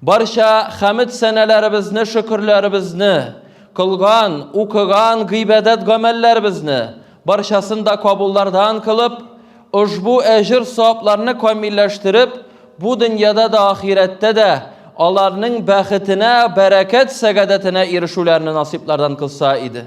Барча хәмид сәнәләребезне, шөкерләребезне, кылган, укыган гыйбадәт гамәлләребезне барчасын да кабуллардан кылып, ошбу әҗер савапларны камилләштереп, бу дөньяда да ахирәттә дә аларның бәхетенә, бәрәкәт сәгадәтенә ирешүләрне насыйплардан кылса иде.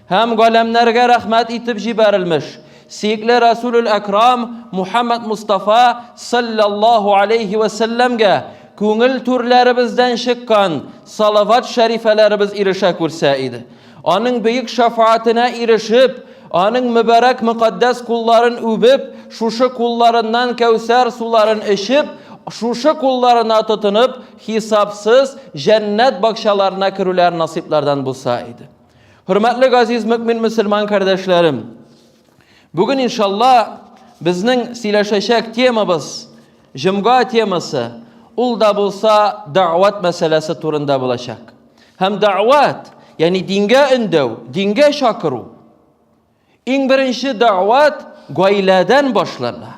Һәм галәмнәргә рәхмәт итеп җибәрелмеш, сиекле Рәсүлүл Әкрам Мухәммәд Мустафа салләллаһу алейһи вә сәлләмгә күңел түрләребездән чыккан салават-шәрифәләребез ирешә күрсә иде. Аның бөек шәфаатенә ирешеп, аның мөбарәк мөкатдәс кулларын үбеп, шушы кулларыннан кәүсәр суларын эчеп, шушы кулларына тотынып, хисапсыз җәннәт бакчаларына керүләр насыйплардан булса иде. Хөрмәтле газиз мөкмин мөселман кардәшләрем, бүген иншалла безнең сөйләшәчәк темабыз, җомга темасы, ул да булса дәгъват мәсьәләсе турында булачак. Һәм дәгъват, ягъни дингә өндәү, дингә чакыру. Иң беренче дәгъват гаиләдән башлана.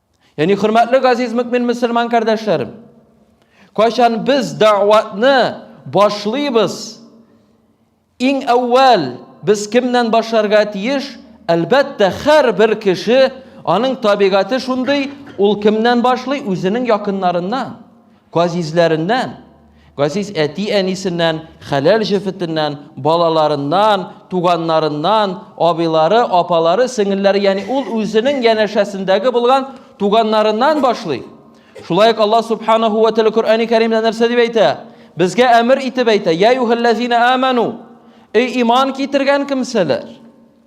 Яни хөрмәтле газиз мөкмин мөселман кардәшләрем, кайчан без дәгъватны башлыйбыз, иң әүвәл без кемнән башларга тиеш? Әлбәттә, һәрбер кеше аның табигате шундый, ул кемнән башлый? Үзенең якыннарыннан. Газизләреннән, газиз әти-әнисеннән, хәләл җефетеннән, балаларыннан, туганнарыннан, абыйлары, апалары, сеңелләре, ягъни ул үзенең янәшәсендәге булган туганнарыннан башлый. Шулай ук Аллаһ субханаһу ва тәгалә Коръәни Кәримдә нәрсә дип әйтә? Безгә әмер итеп әйтә: "Я юхәлләзина аману!" Эй иман китергән кемсәләр!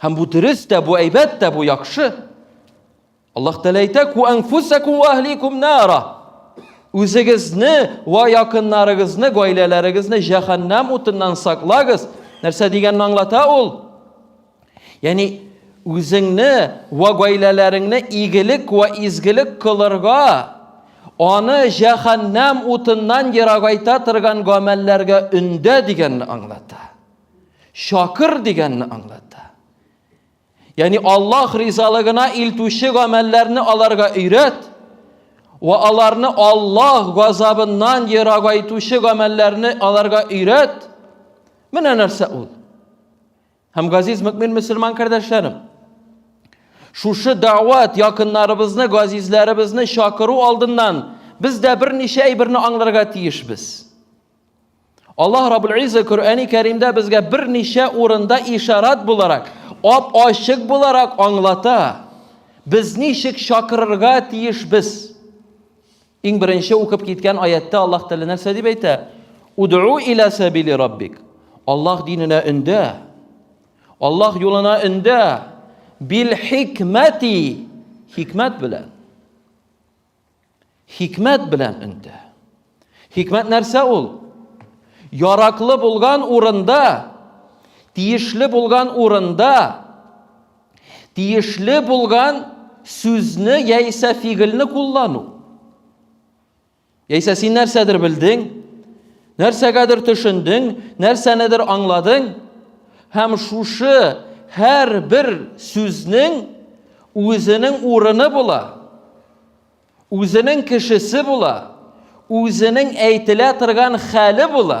Һәм бу дөрес тә, бу әйбәт тә, бу яхшы. Аллаһ Тәгалә әйтә: "Ку анфусакум ва ахликум нара". Үзегезне ва якыннарыгызны, гаиләләрегезне җәһәннәм утыннан саклагыз. Нәрсә дигәнне аңлата ул? Ягъни үзеңне ва гаиләләреңне игелек ва изгелек кылырга, аны җәһәннәм утыннан ерагайта торган гамәлләргә өндә дигәнне аңлата. Шакыр дигәнне аңлата. Яни Аллаһ ризалыгына илтүче гамәлләрне аларга өйрәт ва аларны Аллаһ газабыннан ерагайтучы гамәлләрне аларга өйрәт. Менә нәрсә ул. Һәм газиз мөмин мусламан кардәшләрем, шушы дәват якыннарыбызны, газизләребезне чакыру алдыннан без дә берничә әйберне аңларга тиешбез. Аллаһ Раббул Изза Коръәни Кәримдә безгә берничә урында ишарат буларак, ап ачык буларак аңлата. Без ничек чакырырга тиеш без? Иң беренче укып киткән аяттә Аллаһ Тәгалә нәрсә дип әйтә? Уду иля сабили раббик. Аллаһ диненә өндә. Аллаһ юлына өндә. Бил хикмәти хикмәт белән. Хикмәт белән өнтә. Хикмәт нәрсә ул? Яраклы булган урында, тиешле булган урында, тиешле булган сүзне яисә фигыльне куллану. Яисә син нәрсәдер белдең, Нәрсәгәдер төшендең, нәрсәнедер аңладың һәм шушы һәр бер сүзнең үзенең урыны була, үзенең кешесе була, үзенең әйтелә торган хәле була.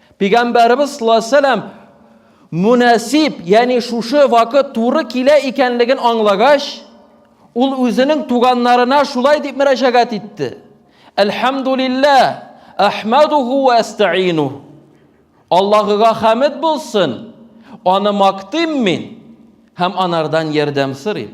Пигамбәребез саллаллаһу алейһи вәсәлләм мөнәсиб, ягъни шушы вакыт туры килә икәнлеген аңлагач, ул үзенең туганнарына шулай дип мөрәҗәгать итте. Әлхәмдулилла, әхмәдуху ва әстәину. Аллаһыга хәмед булсын, аны мактыйм мин һәм анардан ярдәм сорыйм.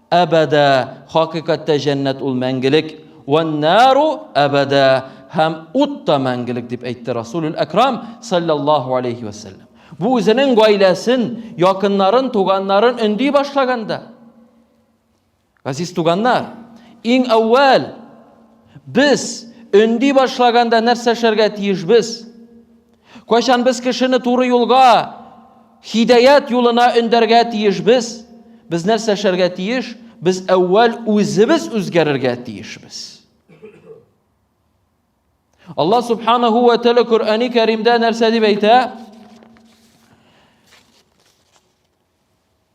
Әбәдә, хакыйкатьтә җәннәт ул мәңгелек. Вәннару әбәдә, һәм ут та мәңгелек, дип әйтте Расулюл Әкрам, саллаллаху алейхи вәсәлләм. Бу үзенең гаиләсен, якыннарын, туганнарын өнди башлаганда. Газиз туганнар, иң әүвәл без өнди башлаганда нәрсә эшләргә тиешбез? Кайчан без кешене туры юлга, хидәят юлына өндәргә тиешбез? Без нәрсә эшләргә тиеш? Без әүвәл үзебез үзгәрергә тиешбез. Алла субханаһу ва тәгалә Коръәни Кәримдә нәрсә дип әйтә?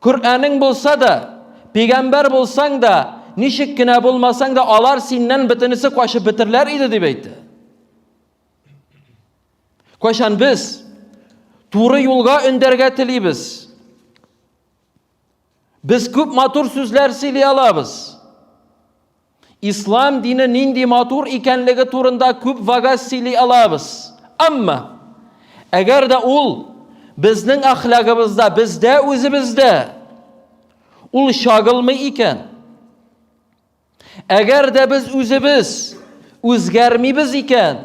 Коръәнең булса да, пигамбәр булсаң да, ничек кенә булмасаң да, алар синнән бөтенесе качып бетерләр иде дип әйтте. Кайчан без туры юлга өндәргә телибез. Без күп матур сүзләр сөйли алабыз. Ислам дине нинди матур икәнлеге турында күп вагаз сөйли алабыз. Әмма, әгәр дә ул безнең әхлагыбызда, бездә үзебездә ул чагылмый икән, әгәр дә без үзебез үзгәрмибез икән,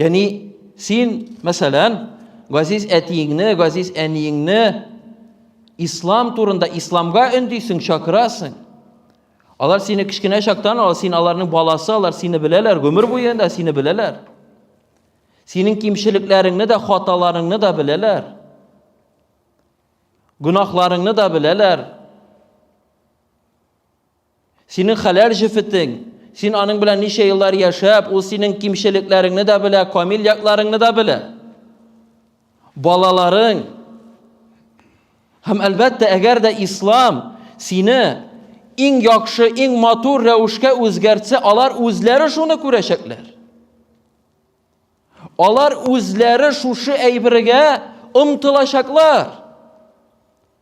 Яни син, мәсәлән, газиз әтиеңне, газиз әниеңне ислам турында, исламга өндисең, чакырасың. Алар сине кечкенә чактан, алар син аларның баласы, алар сине беләләр, гомер буе да сине беләләр. Синең кимчелекләреңне дә, хаталарыңны да беләләр. Гүнахларыңны да беләләр. Синең хәләл җефетең, син аның белән ничә еллар яшәп, ул синең кимчелекләреңне дә белә, камил якларыңны да белә. Балаларың. Һәм әлбәттә, әгәр дә ислам сине иң яхшы, иң матур рәвешкә үзгәртсә, алар үзләре шуны күрәчәкләр. Алар үзләре шушы әйбергә омтылачаклар.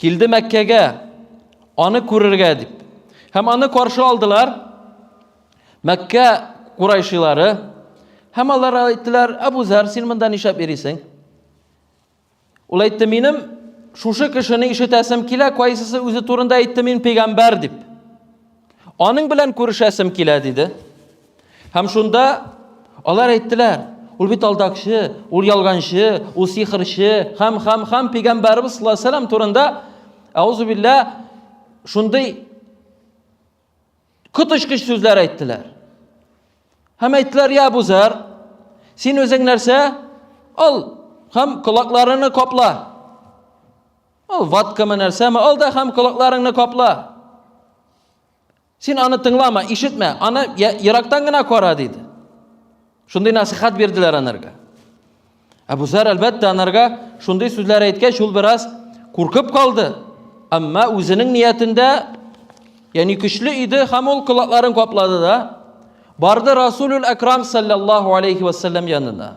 Килде Мәккәгә, аны күрергә дип. Һәм аны каршы алдылар Мәккә курайшилары. Һәм алар әйттеләр, Әбу Зәр, син монда нишләп йөрисең? Ул әйтте, минем шушы кешене ишетәсем килә, кайсысы үзе турында әйтте, мин пәйгамбәр дип. Аның белән күрешәсем килә, диде. Һәм шунда алар әйттеләр, ул бит алдакчы, ул ялганчы, ул сихрчы, һәм һәм һәм пигамбарыбыз саллаллаһу алейһи вәсәлләм турында аузу билла шундый коточкыч сүзләр әйттеләр. Һәм әйттеләр, я Абу Зәр, син үзең нәрсә? Ал һәм колакларыңны капла. Ул ваткамы нәрсәме? Ал да һәм колакларыңны капла. Син аны тыңлама, ишетмә, аны ерактан гына кара, диде. Шундый насихат бирделәр анарга. Әбу Зар, әлбәттә, анарга шундый сүзләр әйткәч, ул бераз куркып калды. Әмма үзенең ниятендә, ягъни көчле иде һәм ул колакларын каплады да, барды Расулул Акрам саллаллаху алейхи ва саллям янына.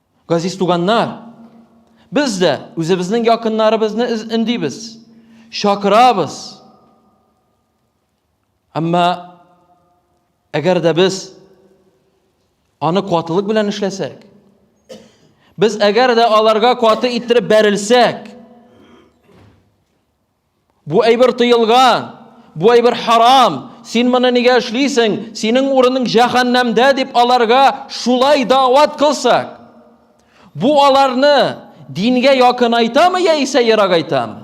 Газиз туганнар, без дә үзебезнең якыннарыбызны өндибез, чакырабыз. Әмма әгәр дә без аны катылык белән эшләсәк, без әгәр дә аларга каты иттереп бәрелсәк, Бу әйбер тыелган, бу әйбер харам, син моны нигә эшлисең, синең урының җәһәннәмдә дип аларга шулай дәват кылсак, бу аларны дингә якынайтамы яисә ерагайтамы?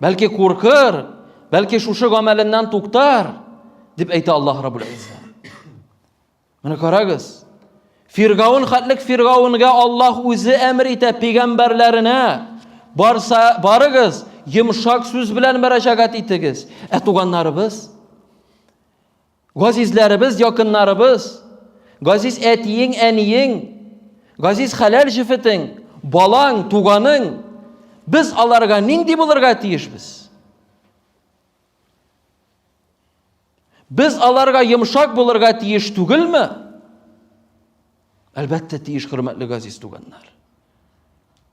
Бәлки куркыр, бәлки шушы гамәленнән туктар, дип әйтә Аллаһ Раббул Изза. Менә карагыз. Фиргаун хатлык Фиргаунга Аллаһ үзе әмер итә пигамбәрләренә. Барса, барыгыз, йомшак сүз белән мөрәҗәгать итегез. Ә туганнарыбыз Газизләребез, якыннарыбыз, газиз әтиең, әниең, газиз хәләл җефетең, балаң, туганың, без аларга нинди булырга тиешбез? Без аларга йомшак булырга тиеш түгелме? Әлбәттә, тиеш, хөрмәтле газиз туганнар.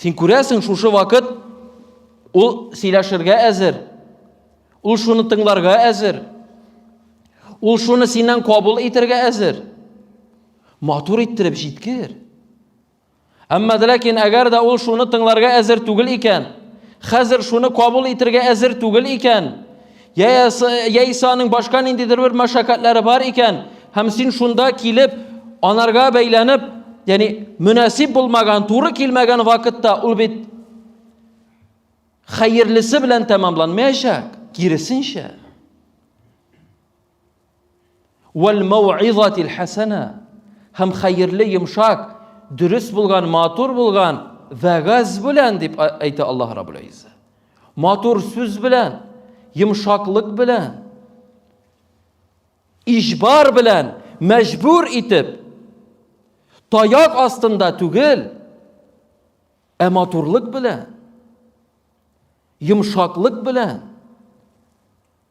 Син күрәсең, шушы вакыт ул сөйләшергә әзер. Ул шуны тыңларга әзер. Ул шуны синнән кабул итәргә әзер. Матур иттереп җиткер. Әмма ләкин әгәр дә ул шуны тыңларга әзер түгел икән, хәзер шуны кабул итәргә әзер түгел икән, Яисә аның башка ниндидер бер мәшәкатьләре бар икән, һәм син шунда килеп, анарга бәйләнеп, ягъни мөнәсиб булмаган, туры килмәгән вакытта ул бит хәерлесе белән тәмамланмаячак, киресенчә. Вәл мәүизатил хәсәнә. Һәм хәерле, йомшак, дөрес булган, матур булган вәгазь белән дип әйтә Аллаһ Раббул Изза. Матур сүз белән, йомшаклык белән, ижбар белән, мәҗбүр итеп, таяк астында түгел, ә матурлык белән, йомшаклык белән,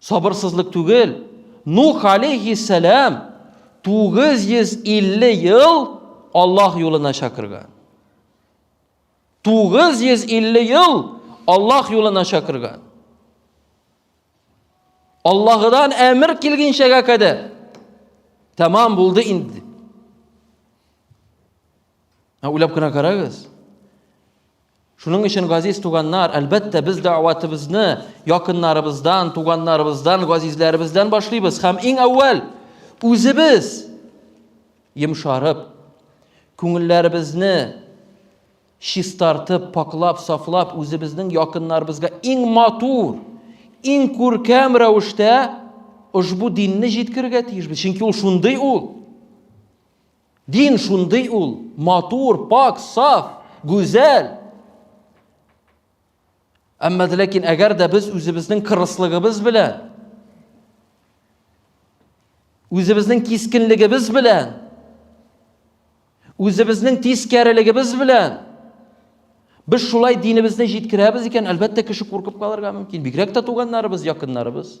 Сабырсызлык түгел, Нух алейһиссәлам 950 ел Аллаһ юлына чакырган. 950 ел Аллаһ юлына чакырган. Аллаһыдан әмер килгенчәгә кадәр тәмам булды инде. Ә уйлап кына карагыз. Шуның өчен, газиз туганнар, әлбәттә, без дәгъватыбызны якыннарыбыздан, туганнарыбыздан, газизләребездән башлыйбыз һәм иң әүвәл үзебез йомшарып, күңелләребезне чистартып, паклап, сафлап, үзебезнең якыннарыбызга иң матур, иң күркәм рәвештә ошбу динне җиткерергә тиешбез. Чөнки ул шундый ул. Дин шундый ул, матур, пак, саф, гүзәл. Әмма ләкин әгәр дә без үзебезнең кырыслыгыбыз белән үзебезнең кискенлегебез белән үзебезнең тискәрелегебез белән без шулай динебезне җиткерәбез икән, әлбәттә, кеше куркып калырга мөмкин. Бигрәк тә туганнарыбыз, якыннарыбыз.